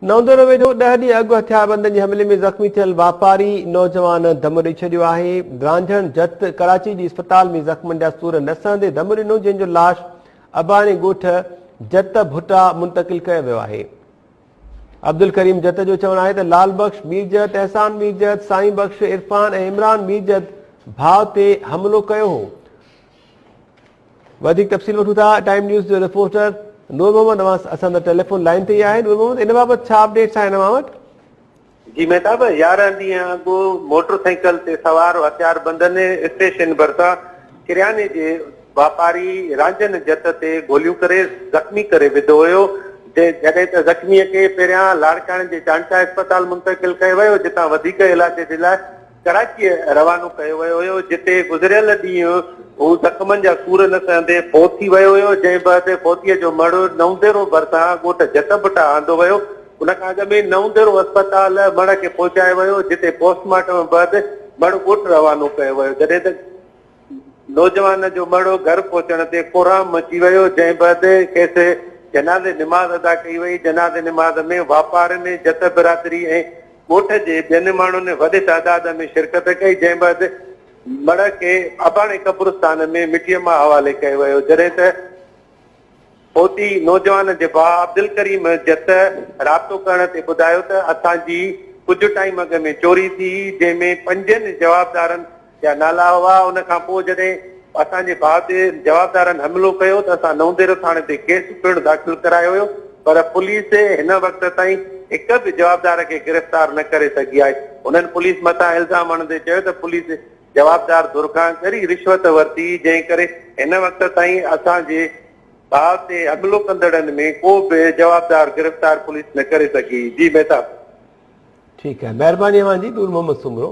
نوندورو ويجهو ڏهه ڏينهن اڳ هٿياربندن جي حملي ۾ زخمي ٿيل واپاري نوجوان دم ڏئي ڇڏيو آهي برانجهڻ جت ڪراچي جي اسپتال ۾ زخمن جا سور نه سهندي دم ڏنو جنهن جو لاش اباڻي ڳوٺ جت ڀٽا منتقل ڪيو ويو آهي عبدالڪريم جت جو چوڻ آهي ته لال بخش ميرجت احسان ميرجت سائين بخش عرفان ۽ عمران ميرجت ڀاء تي حملو ڪيو هو وڌيڪ تفصيل وٺون ٿا ٽائيم نيوز جو رپورٽر نور محمد اوهان اسان سان ٽيليفون لائين تي آهي نور محمد ان بابت ڇا اپڊيٽس آهن اوهان وٽ جي مهتاب يارهن ڏينهن اڳ موٽر سائيڪل تي سوار هٿيار بندن اسٽيشن ڀرسان ڪرياني جي واپاري رانجهن جت تي گوليون ڪري زخمي ڪري وڌو هيو جڏهن ته زخمي کي پهريان لاڙڪاڻي جي چانڊڪا اسپتال منتقل ڪيو ويو جتان وڌيڪ علاج جي لاء ڪراچيء روانو ڪيو ويو هيو، جتي گذريل ڏينهن هو زخمن جا سور نه سهندي فوت ٿي ويو هيو، جنهن بعد فوتيء جو مڙهه نئونديرو ڀرسان ڳوٺ جت ڀٽا آندو ويو، ان کان اڳ ۾ نئونديرو اسپتال مڙهه کي پهچايو ويو، جتي پوسٽ مارٽم بعد مڙهه ڳوٺ روانو ڪيو ويو، جڏهن ته. نوجوان جو مڙهو گهر پهچڻ تي ڪورهام مچي ويو جنهن بعد کيس جنازي نماز ادا ڪئي وئي جنازي نماز ۾ واپارين جت برادري ۽ ڳوٺ جي ٻين ماڻهن وڏي تعداد ۾ شرڪت ڪئي جنهن بعد مڙهه کي اباڻي قبرستان ۾ مٽيء مان حوالي ڪيو ويو جڏهن ته پهتي نوجوان جي ڀاء عبدالڪريم جت رابطو ڪرڻ تي ٻڌايو ته اسان جي ڪجهه ٽائيم اڳ ۾ چوري ٿي جنهن ۾ پنجن جوابدارن جا نالا هئا ان کان پوء جڏهن اسان جي ڀاء تي جوابدارن حملو ڪيو ته اسان نونديرو ٿاڻي تي ڪيس پڻ داخل ڪرايو هيو پر پوليس هن وقت تائين هڪ به جوابدار کي گرفتار نه ڪري سگهي آهي هنن پوليس مٿان الزام هڻندي چيو ته پوليس جوابدار ڌر کان ڳري رشوت ورتي جنهن ڪري هن وقت تائين اسان جي ڀاء تي حملو ڪندڙن ۾ ڪو به جوابدار گرفتار پوليس نه ڪري سگهي جي مهتاب. ٺيڪ آهي مهرباني اوهان جي نور محمد سومرو.